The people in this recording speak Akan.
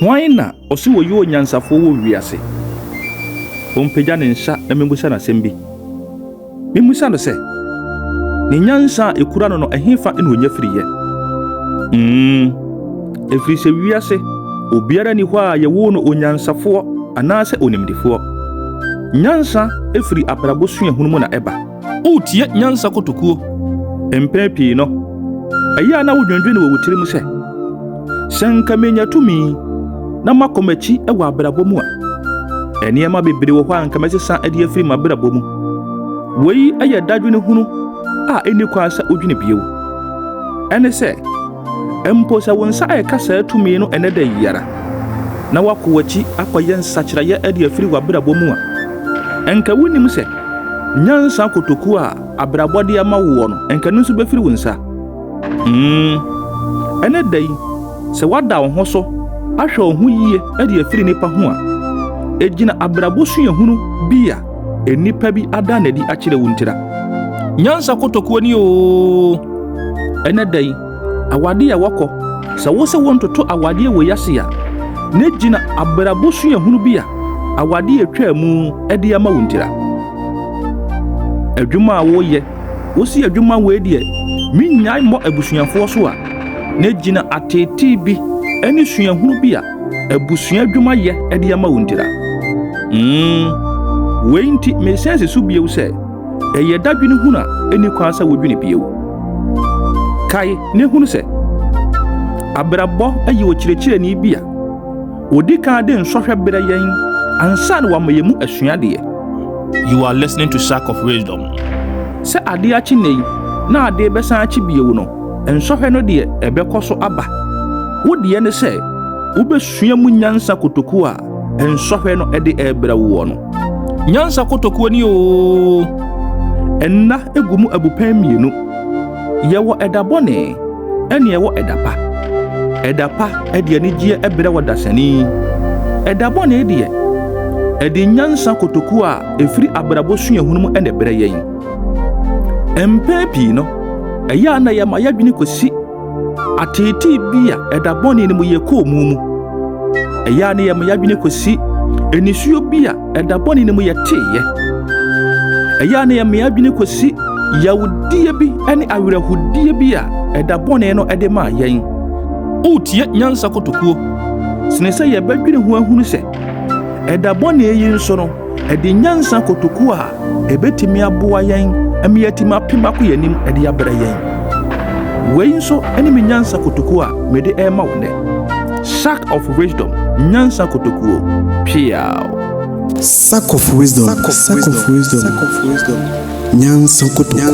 Hwan na ɔse wɔyɛ onyansafoɔ wɔ wiase? Ɔmpagya ne nsa na memmisa no asɛm bi. Memmisa no sɛ, Ne nyansa a ɛkura no no, ɛhefa na ɔnya firiiɛ? Mm, ɛfiri sɛ wiase obiara nni hɔ a yɛwoo no onyansafoɔ anaasɛ onimdefoɔ. Nyansa firi abrabɔ suahunu mu na ɛba. Woretie nyansa kotokuo. Mpɛn pii no, ɛyɛ a na wodwendwene wɔ wo tirim sɛ, Sɛ anka menya tumi na makɔ m'akyi wɔ abrabɔ mu a, nneɛma bebree wɔ hɔ a anka mɛsesa de afiri m'abrabɔ mu. Wei yɛ dadwene hunu a ɛnni kwan sɛ wodwene bio. Ɛne sɛ, mpo sɛ wo nsa reka saa tumi no ɛnnɛ da yi ara, na woakɔ w'akyi akɔyɛ nsakyeraeɛ de afiri w'abrabɔ mu a, anka wonnim sɛ, Nyansa kotoku a abrabɔ de ama woɔ no, anka ɛno nso bɛfiri wo nsa? Hmm. Ɛnnɛ da yi, sɛ woada wo ho so ahwɛ wo ho yie de afiri nnipa ho a, ɛgyina abrabɔ suahunu bi a nnipa bi ada no adi akyerɛ wo ntira. Nyansa kotokuo ni oo! Ɛnnɛ da yi, Awadeɛ a ɛwɔ kɔ, Sɛ wosɛ wontoto awadeɛ wɔ yiase a, na gyina abrabɔ suahunu bi a awadeɛ a ɛtwaa mu de ama wo ntira. Adwuma a woyɛ, Wose adwuma wei deɛ mennyae mmɔ abusuafoɔ so a, na gyina ateetee bi ne suahunu bi a abusua adwuma yɛ de ama wo ntira. Umm wei nti meresan si so bio sɛ, Ɛyɛ dadwene hunu a enni kwan sɛ wodwene bio. Kae na hunu sɛ, abrabɔ yɛ ɔkyerɛkyerɛni bi a odi kan de nsɔhwɛ brɛ yɛn ansa na wama yɛn mu asuadeɛ. You are listening to Sack of Wisdom. Sɛ adeɛ akye nnɛ yi na adeɛ rebɛsan akye bio no, nsɔhwɛ no deɛ ɛbɛkɔ so aba. Wo deɛ ne sɛ wobɛsua mu nyansa kotoku a nsɔhwɛ no de rebrɛ woɔ no. Nyansa kotokuo ni oo. Nna gu mu abupɛn mmienu. Yɛwɔ ɛda bɔne ɛne ɛwɔ ɛda pa. Ɛda pa ɛde anigyeɛ ɛbrɛ wɔ dasani. Ɛda bɔne deɛ ɛde nyansa kotokuo a ɛfiri abrabɔ suahunu mu ɛna ɛbrɛ yɛn. Mpɛn pii no ɛyɛ a na yɛma yɛadwene kɔsi Ateetee bi a ɛda bɔne no mu yɛ koomu mu. Ɛyɛ a na yɛma yɛadwene kosi anisuo bi a ɛda bɔne no mu yɛ teeyɛ. Ɛyɛ a na yɛma yɛadwene kosi yawudie bi ne awerɛhodie bi a ɛda bɔne no de maa yɛn. Wotie nyansa kotokuo sene sɛ yɛbɛdwene ho ahunu sɛ Ɛda bɔne yi nso no adi nyansa kotoku a ebetumi aboa yɛn ma yɛatumi apem akɔ yɛn anim de abrɛ yɛn. Wei nso ne me nyansa kotoku a mede rema wo nnɛ. Sack of Wisdom Nyansa Kotokuo. Peaw! Sack of Wisdom Sack of Wisdom Nyansa Kotokuo.